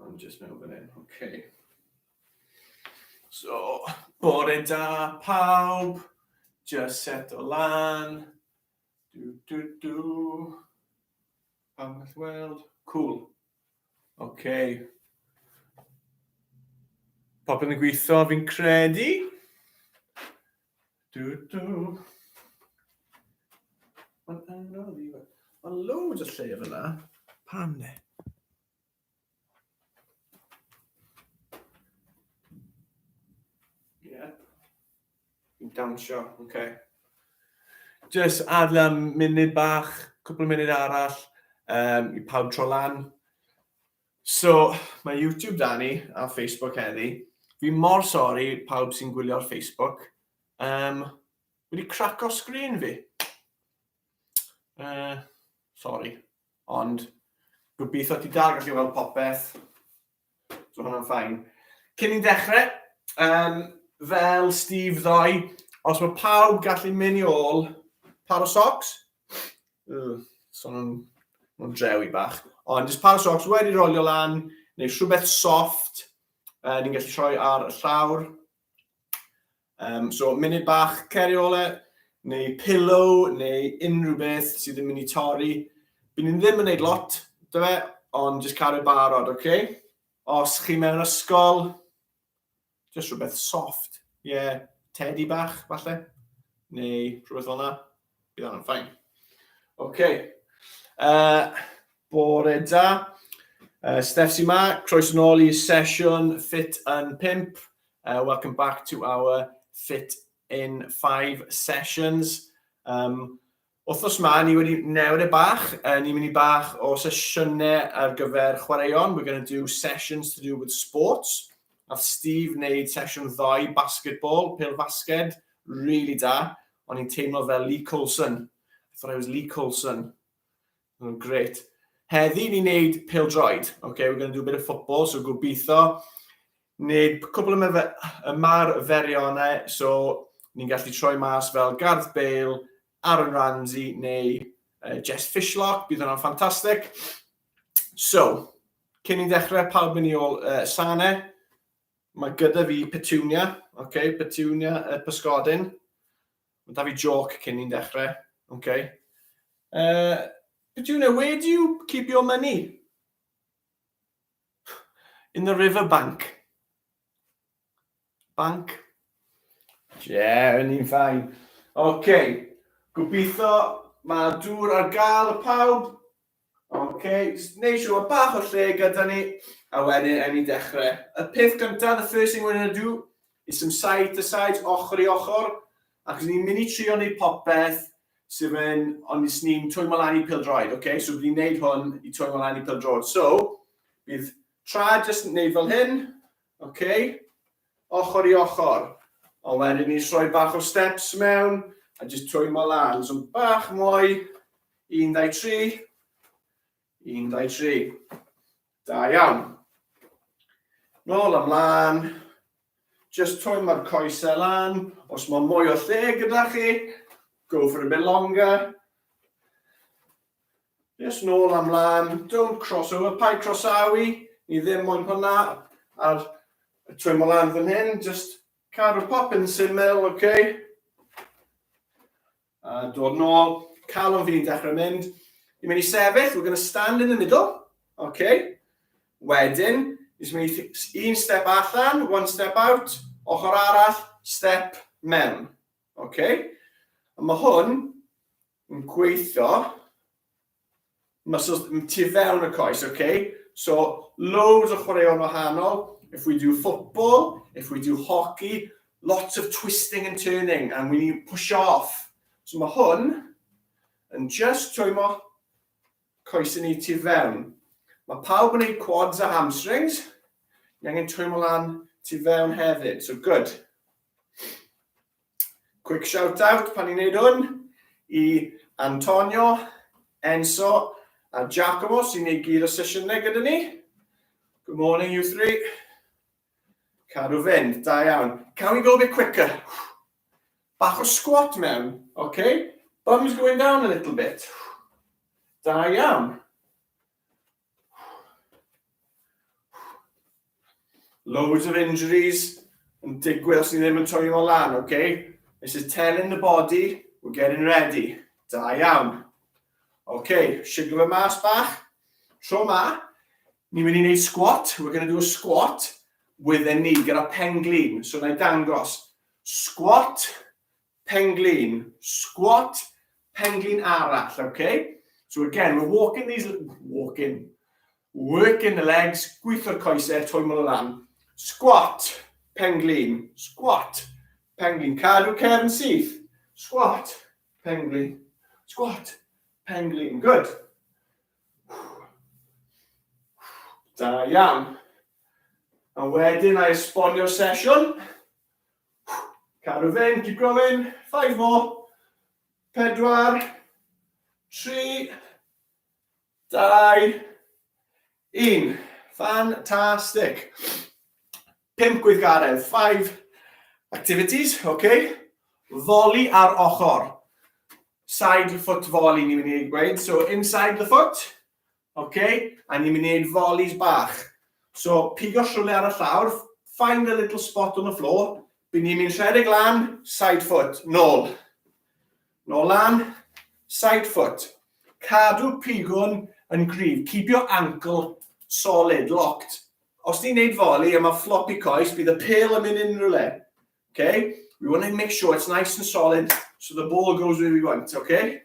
Mae'n just mewn fan hyn, oce. So, bore da pawb, just set o lan. Du, du, du. Pawb all weld. Cool. Oce. Popeth yn gweithio, fi'n credu. Du, du. Mae'n anodd i fe. Mae loads o lle fyna. Pam ne? dawnsio, oce. Okay. Just adla munud bach, cwpl o munud arall um, i pawb tro lan. So, mae YouTube da ni a Facebook heddi. Fi mor sori pawb sy'n gwylio ar Facebook. Um, wedi craco sgrin fi. Uh, sorry. Ond, gobeithio ti dal gallu weld popeth. So hwnna'n ffain. Cyn i'n dechrau, um, fel Steve ddoi, os mae pawb gallu mynd i ôl par o socks, uh, so nhw'n nhw drewi bach, ond jyst par o socks wedi rolio lan, neu rhywbeth soft, uh, ni'n gallu troi ar y llawr, Um, so, munud bach ceri ole, neu pillow, neu unrhyw beth sydd yn mynd i torri. Bydd ni'n ddim yn gwneud lot, dy fe, ond jyst cael ei barod, oce? Okay? Os chi mewn ysgol, jyst rhywbeth soft. Ie, yeah, teddy bach, falle, neu rhywbeth fel yna. Bydd hwnna'n ffain. OK. Uh, bore da. Uh, Steph sy'n ma, croes yn ôl i sesiwn Fit yn 5. Uh, welcome back to our Fit in 5 sessions. Um, Wthnos ma, ni wedi newid e bach. Uh, ni'n mynd i bach o sesiynau ar gyfer chwaraeon. We're going to do sessions to do with sports. Nath Steve wneud sesiwn ddoe, basketball, pil basged, really da. O'n i'n teimlo fel Lee Coulson. I thought I was Lee Coulson. Oh, great. Heddi ni'n neud pildroed. Okay, we're going to do a bit of football, so gobeithio. Neud cwbl y ymarferio yna, so ni'n gallu troi mas fel Garth Bale, Aaron Ramsey neu uh, Jess Fishlock. Bydd hwnna'n ffantastig. So, cyn i'n dechrau, pawb mynd i ôl uh, sane. Mae gyda fi petunia, oce, okay, petunia y uh, pysgodyn. Mae da fi joc cyn ni'n dechrau, oce. Okay. Uh, petunia, where do you keep your money? In the river bank. Bank. Yeah, yn i'n ffain. Oce, okay. gobeithio mae dŵr ar gael y pawb. Ok, jyst neud siwr bod bach o lle gyda ni, a wedyn ewn ni dechrau. Y peth gyntaf, the first thing we're going to do, is some side to side, ochr i ochr, ac os ni'n mynd i trio neud popeth sydd yn, ond os ni'n twymo lan i pildroed, ok? So bydd ni'n neud hwn i twymo lan i pildroed. So, bydd tra jyst yn neud fel hyn, ok? Ochr i ochr. Ond wedyn ni'n rhoi bach o steps mewn, a jyst twymo lan. So bach mwy, Un, dau, tri. Un, dau, tri. Da iawn. Nôl ymlaen. Just twym mae'r coesau lan. Os mae mwy o lle gyda chi, go for a bit longer. Just nôl am lan. Don't cross over. Pai crosawi. Ni ddim moyn hwnna. A'r twym o lan fan hyn. Just cadw popyn syml, oce? Okay? A dod nôl, calon fi'n dechrau mynd. Ni'n mynd i sefyll, we're going to stand in the middle. OK. Wedyn, ni'n mynd i un step allan, one step out, ochr arall, step mewn. OK. A mae hwn yn gweithio Mae so, tu fewn y coes, oce? Okay? So, loads o chwaraeon wahanol. If we do football, if we do hockey, lots of twisting and turning, and we need push off. So mae hwn yn just twymo coes yn ei tu fewn. Mae pawb yn ei quads a hamstrings. Ni angen twymo lan tu fewn hefyd. So good. Quick shout out pan ni'n neud hwn i Antonio, Enzo a Giacomo sy'n neud gyd o sesiynau gyda ni. Good morning you three. Cadw fynd, da iawn. Can we go a bit quicker? Bach o squat mewn, okay? Bums going down a little bit. Da iawn. Loads of injuries yn digwydd os ni ddim yn twylio o lan, oce? Okay? This is telling the body, we're getting ready. Da iawn. Oce, okay, siglo fe mas bach. Tro ma, ni'n mynd i wneud squat. We're going to do a squat with a knee, gyda pen glin. So na i dangos. Squat, Penglin, squat, penglin arall, ok? So again, we're walking these, walking, working the legs, gwitho'r coesau, troi mol lan. Squat, penglin, squat, penglin, cadw cefn syth. Squat, penglin, squat, penglin, good. Da iawn. A wedyn, I esbonio'r sesiwn. Cadw fe'n, keep going, five more, pedwar, tri, dau, un, fantastic. Pimp gweithgaredd, five activities, oce. Okay. Foli ar ochr. Side foot foli ni'n mynd i gweud, so inside the foot, Ok, a ni'n mynd i wneud volleys bach. So, pigo siwrne ar y llawr, find a little spot on the floor, by ni'n mynd rhedeg lan, side foot, nôl. Nôl lan, side foot. Cadw pigwn yn gryf, keep your ankle solid, locked. Os ni'n neud volley a mae floppy coes, bydd y pel yn mynd unrhyw le. Okay? We want to make sure it's nice and solid so the ball goes where we want, okay?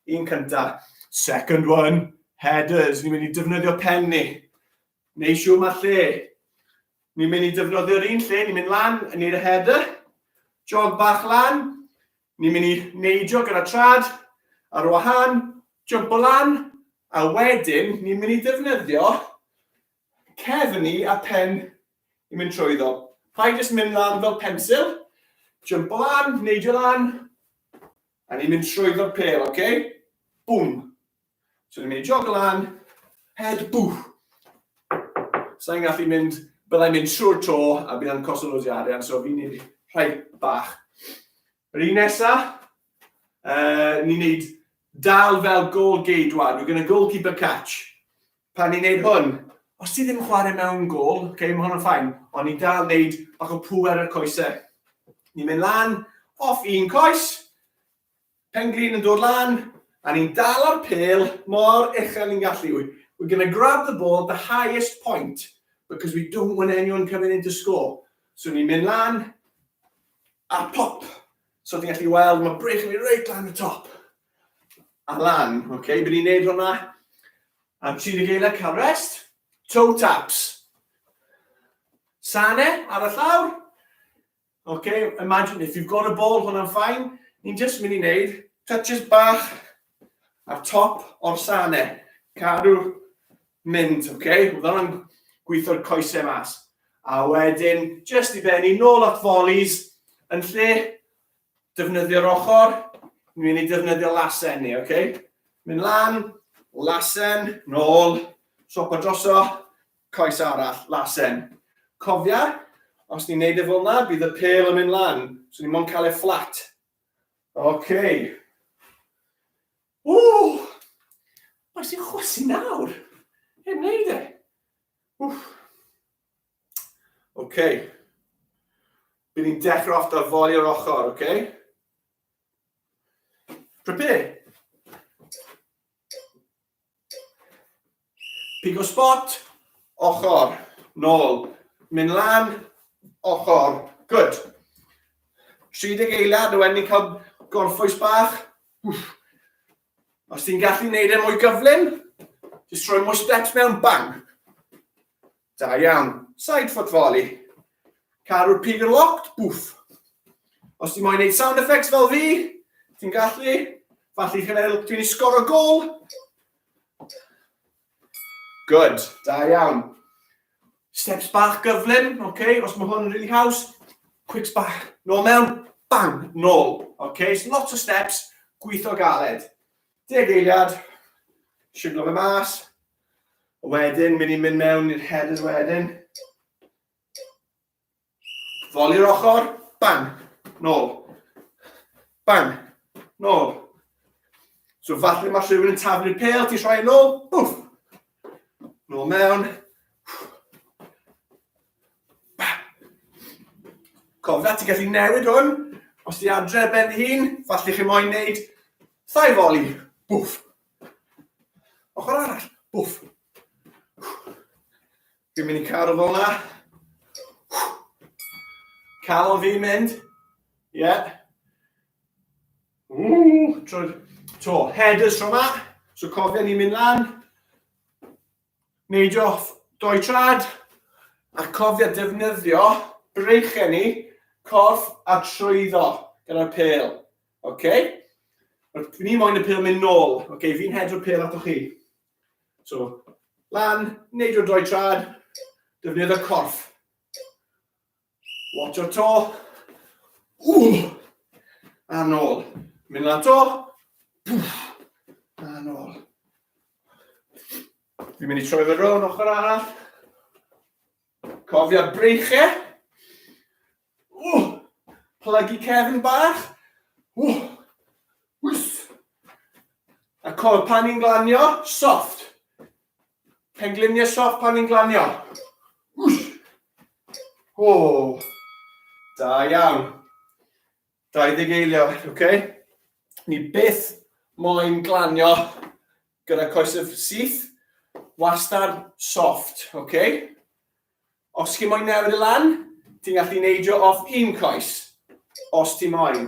Un cyntaf. Second one, headers. Ni'n mynd i defnyddio pen ni. Neu siw mae lle. Ni'n mynd i defnyddio'r un lle, ni'n mynd lan yn neud y header. Jog bach lan. Ni'n mynd i neidio gyda trad ar wahan. Jump o lan. A wedyn, ni'n mynd i defnyddio cefn ni a pen i mynd trwyddo. Rhaid jyst mynd lan fel pensil, jump o lan, neidio lan, A ni'n mynd trwyddo'r pêl, oce? Bwm! So ni'n mynd i jog lan, head boof! Sa'n gallu mynd, byddai'n mynd trwy'r to a bydd yn costio loads o arian, so fi'n mynd rhai bach. Yr un nesa, uh, ni'n neud dal fel goal geidwad, we're going to goalkeeper catch. Pan ni'n neud hwn, os ti ddim yn chware mewn gôl, ok, ma' hwnna'n fine, ond ni'n dal neud bach o pŵ ar y coese. Ni'n mynd lan, off un coes, pen glin yn dod lan, a ni'n dal ar pêl mor uchel ni'n gallu. We're going to grab the ball at the highest point, because we don't want anyone coming in to score. So ni'n mynd lan, a pop. So ti'n gallu weld, mae brech yn mynd reit lan y top. Alan, ok, by ni'n neud hwnna. A ti'n y geiriau cael rest, toe taps. Sane, ar y llawr. Ok, imagine if you've got a ball, hwnna'n ffain. Ni'n just mynd i neud touches bach ar top o'r sane. Cadw mynd, ok? Hwnna'n gweithio'r coesau mas. A wedyn, just i benni, nôl at volleys, yn lle Defnyddio'r ochr, ni'n mynd i defnyddio lasen ni, ok? Mynd lan, lasen, nôl, siopa droso, coes arall, lasen. Cofia, os ni'n neud e fel yna, bydd y pel yn mynd lan, so ni'n mwyn cael e fflat. Ok. Ww! Mae sy'n chwysu nawr. Hyn neud e. Wff. OK. By ni'n dechrau off da foli o'r ochr, OK? Prepare. Pigo spot, ochr, nôl, mynd lan, ochr, good. 30 eiliad, nhw wedyn ni'n cael gorffwys bach. Wff. Os ti'n gallu gwneud e mwy gyflym, jyst rhoi mwy steps mewn, bang. Da iawn. Side foot volley. Caru'r pig yn locked, bwff. Os ti'n moyn neud sound effects fel fi, ti'n gallu, falle chi'n meddwl dwi'n ei sgor o gol. Good, da iawn. Steps bach gyflym, oce, okay. os mae hwn yn really haws, quicks bach, nôl mewn, bang, nôl. Oce, okay. so lots o steps, gweithio galed. Deg eiliad, siglo fe mas. A wedyn, mynd i'n mynd mewn i'r headers wedyn. Foli'r ochr, bang, nôl. Bang, nôl. So falle mae rhywun yn taflu'r pel, ti'n rhoi yn ôl, bwff, Nôl mewn. Cofna, ti'n gallu newid hwn. Os ti adre ben dy hun, falle chi moyn neud thai foli. Bwff. Ochr arall. Bwff. Fi'n mynd i cadw fel yna. Cael fi'n mynd. Ie. Yeah. Ww, tro, to, headers tro ma. So cofio ni'n mynd lan, neidio off doi trad, a cofio defnyddio breichau ni, corff a trwyddo gyda'r pel. Okay? Ni moyn y pel mynd nôl. Okay, fi'n hedro'r pel ato chi. So, lan, neidio doi trad, defnyddio corff. Watch o to. Ww! A nôl. Mynd lan to. A nôl. Fi'n mynd i troi fe rown ochr arall. Cofia breichau. Ww! Plygu cefn bach. Ww! Wws! A col pan i'n glanio, soft. Pengliniau siop pan ni'n glanio. O, da iawn. 20 eiliad, oce? Okay? Ni byth moyn glanio gyda coesau syth, wastad soft, oce? Okay? Os chi'n moyn newid y lan, ti'n gallu neidio off un coes, os ti'n moyn.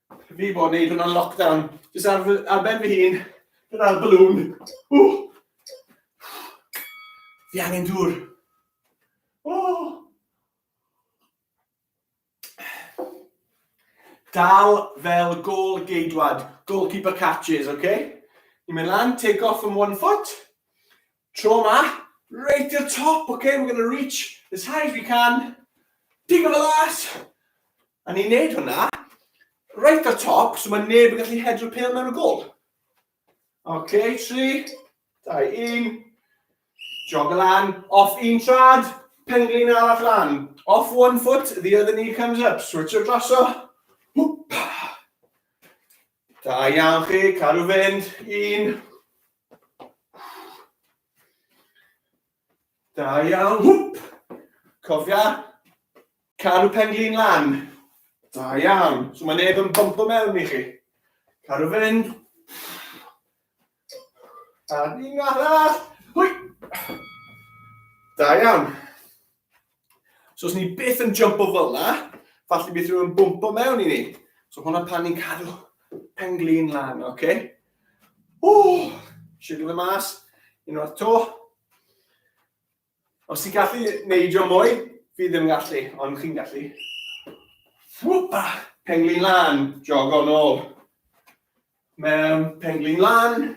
Fi bod wneud hwnna'n lockdown. Jyst ar, ar ben fy hun, gyda'r balloon. Ww! Fi angen dŵr. Oh. Dal fel gol geidwad, goalkeeper catches, oce? Okay? Ni'n mynd lan, take off from one foot, Tro ma, reit i'r top, ok, we're going to reach as high as we can, digon o las, a ni'n neud hwnna, reit o'r top, so mae neb yn gallu hedro pêl mewn y gol. Ok, 3, 2, 1, jog y lan, off un trad, penglin arall lan, off one foot, the other knee comes up, switch o draso, hwp, Da iawn chi, cadw fynd, un, Da iawn, hwp! Cofia, caru pen glin lan. Da iawn. So mae neb yn bumpo mewn i chi. Caru fynd. A un arall. Hwy! Da iawn. So os ni byth yn jump o fel na, falle bydd rhywun bwmpo mewn i ni. So hwnna pan ni'n cadw pen glin lan, oce? Okay? Ww, siwgr y mas, unwaith to. Os ti'n gallu neidio mwy, fi ddim yn gallu, ond chi'n gallu. Wwpa, pen glin lan, jogo nôl. Mewn penglin lan.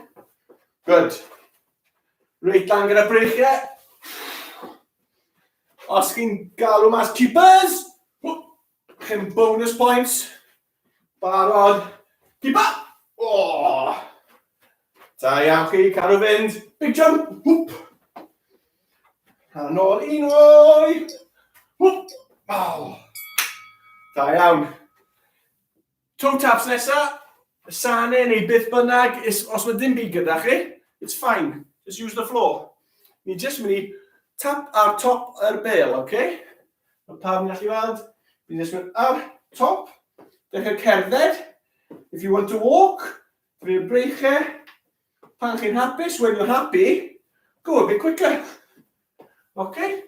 Good. Reit lan gyda breichiau. Os chi'n galw mas keepers, chi'n bonus points. Barod. Keeper! Oh! Da iawn chi, cadw fynd. Big jump. Hwp. Ar yn ôl un oi. Hwp. Oh. Da iawn. Two taps nesa, Sane neu beth bynnag, os mae dim byd gyda chi, it's fine, just use the floor. Ni jyst mynd i tap ar top yr bel, ok? Mae pawb yn gallu weld, ni jyst mynd ar top, dechrau cerdded, if you want to walk, dwi'n breichau, Pan chi'n hapus, when you're happy, go a bit quicker. Okay?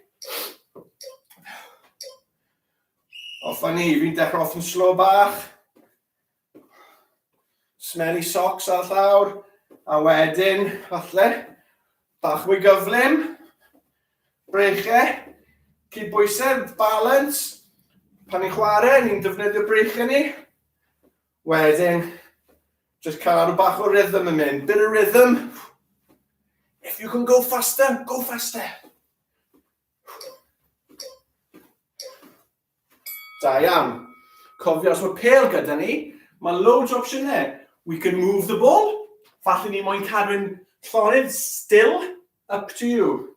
Off a ni, fi'n dechrau off yn slow bach. Smelly socks ar llawr. A wedyn, falle, bach mwy gyflym. Breichau. Cyd bwysau, balance. Pan ni'n chwarae, ni'n defnyddio breichau ni. Wedyn, just cadw bach o rhythm yn mynd. Bit of rhythm. If you can go faster, go faster. Da iawn. Cofio, os mae pel gyda ni, mae loads o opsiynau. We can move the ball. Falle ni moyn cadw'n llonydd, still, up to you.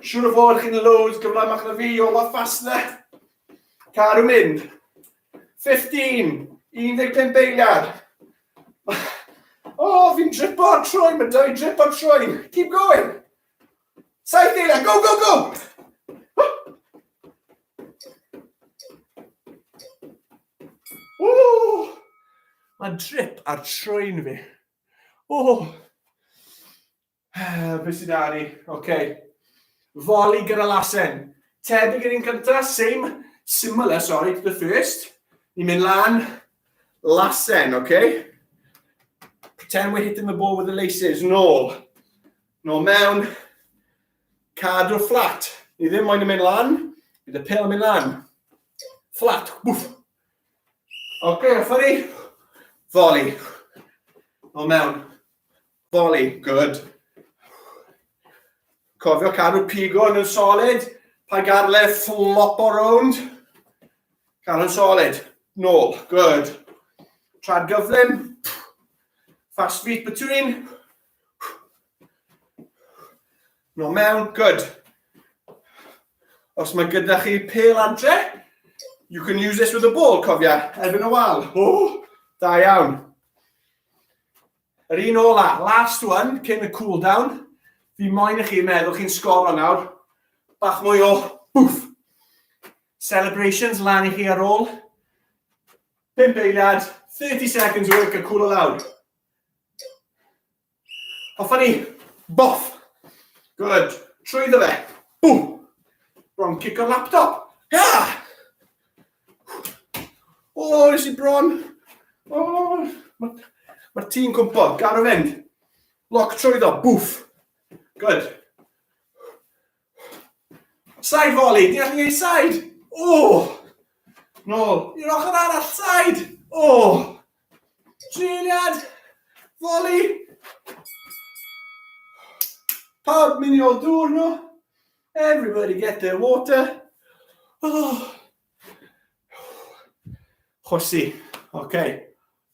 Siwr o fod chi'n loads gyflamach na fi, all that fast na. Caru mynd. 15, 15 beiliad. Oh, fi'n dripo ar trwy, mae dau drip ar trwy. Keep going. Saith eiliad, go, go, go! Oh, mae'n drip ar trwy'n fi. Oh. Beth sydd ar i? OK. Foli gyda lasen. Tebyg yn un cyntaf, same, similar, sorry, to the first. Ni'n mynd lan, lasen, OK? Pretend we're hitting the ball with the laces, nôl. Nôl mewn, cadw fflat. Ni ddim moyn yn mynd lan, bydd y pel yn mynd lan. Fflat, wff. OK, a ffori. Foli. Nôl mewn. Volley, good. Cofio cadw pigo yn solid, pa garle flop o rownd. Cadw yn solid, nôl, good. Trad gyflym, fast feet between, No mewn, good. Os mae gyda chi pel adre, you can use this with a ball, cofia, erbyn y wal. O, da iawn. Yr un ola, last one, cyn y cool down. Fi moyn i chi meddwl chi'n sgoro nawr. Bach mwy o bwff. Celebrations lan i chi ar ôl. Pimp eiliad, 30 seconds work a cool o lawr. Hoffa ni, boff. Good. Trwy ddo fe. Bwm. Bron cico laptop. Ha! O, oh, nes i bron. O, oh, mae'r ma tî'n cwmpo. Gar o fynd. Lock trwyddo. Bwff. Good. Side volley. Di allu ei side. O! Oh. Nôl. I'r ochr arall. Side. O! Oh. Triliad. Volley. Pawb mynd i ôl dŵr nhw. Everybody get their water. Oh. Chwysi. Oce. Okay.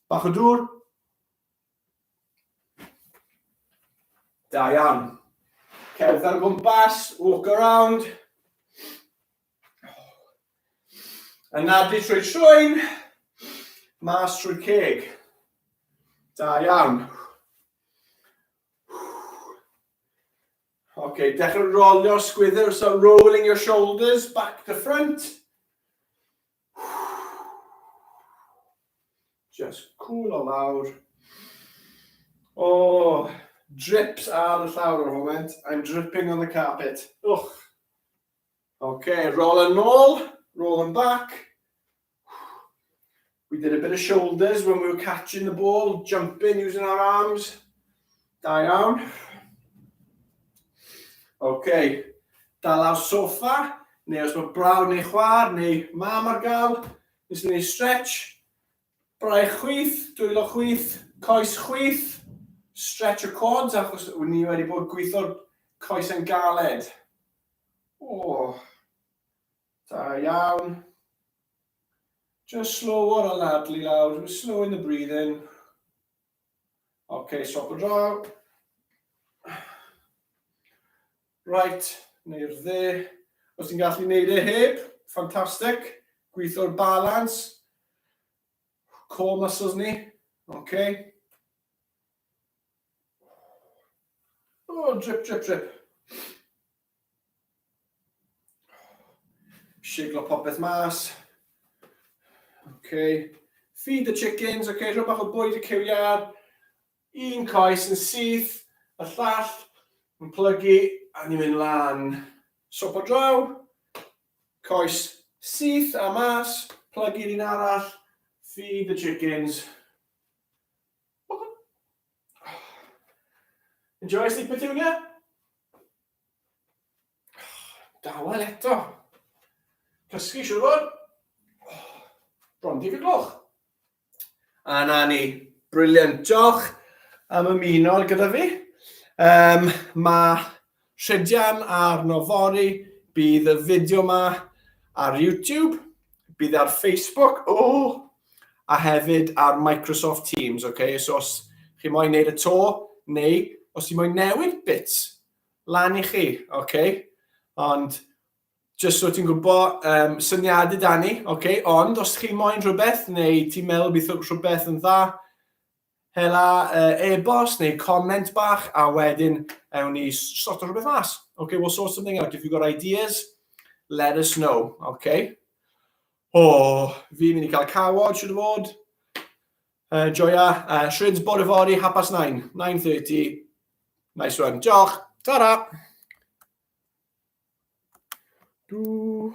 Bach o dŵr. Da iawn. Cerdd ar gwmpas, walk around. Anadlu trwy trwyn, mas trwy ceg. Da iawn. Ok, dechrau rolio'r sgwydr, so rolling your shoulders back to front. Just cool o lawr. O, oh, drips ar y llawr o'r moment. I'm dripping on the carpet. Och. Ok, roll yn ôl, roll yn back. We did a bit of shoulders when we were catching the ball, jumping using our arms. Da iawn. Ok, dal ar sofa, neu os mae brawd neu chwar neu mam ar gael, nes ni stretch, braich chwyth, dwylo chwyth, coes chwyth, stretch y quads achos ni wedi bod gweithio'r coes yn galed. Oh, da iawn. Just slow o'r anadlu lawr, just slow in the breathing. Ok, stop o draw. Right, neu'r dde. Os ti'n gallu neud e heb, ffantastig. Gweithio'r balans. Core muscles ni. Ok. Oh, drip, drip, drip. Siglo popeth mas. Okay. Feed the chickens, okay, rhywbeth o bwyd y cyw iar. Un coes yn syth, y llall yn plygu, a ni'n mynd lan. Sop o draw, coes syth a mas, plygu'r un arall, feed the chickens. Enjoy Sleep Petunia? Dawel eto. Cysgu siwr fod. Bron di gloch. A na ni. Briliant. Diolch am ymuno gyda fi. Um, mae Rhydian arno yfory, bydd y fideo ma ar YouTube, bydd e ar Facebook, oh, a hefyd ar Microsoft Teams, oce? Okay? So os chi moyn neud y to, neu os chi moyn newid bits, lan i chi, oce? Okay? Ond Just so ti'n gwybod, um, syniadau da ni, okay? ond os chi moyn rhywbeth neu ti'n meddwl bydd rhywbeth yn dda, Hela e-bost neu comment bach a wedyn ewn ni sorto rhywbeth mas. Okay, we'll sort something out. If you've got ideas, let us know. Okay. O, oh, fi'n mynd i cael cawod, siwr o fod. Uh, joia, uh, Shrids bod y fori, hapas 9, 9.30. Nice one. Diolch. Ta-ra. Do.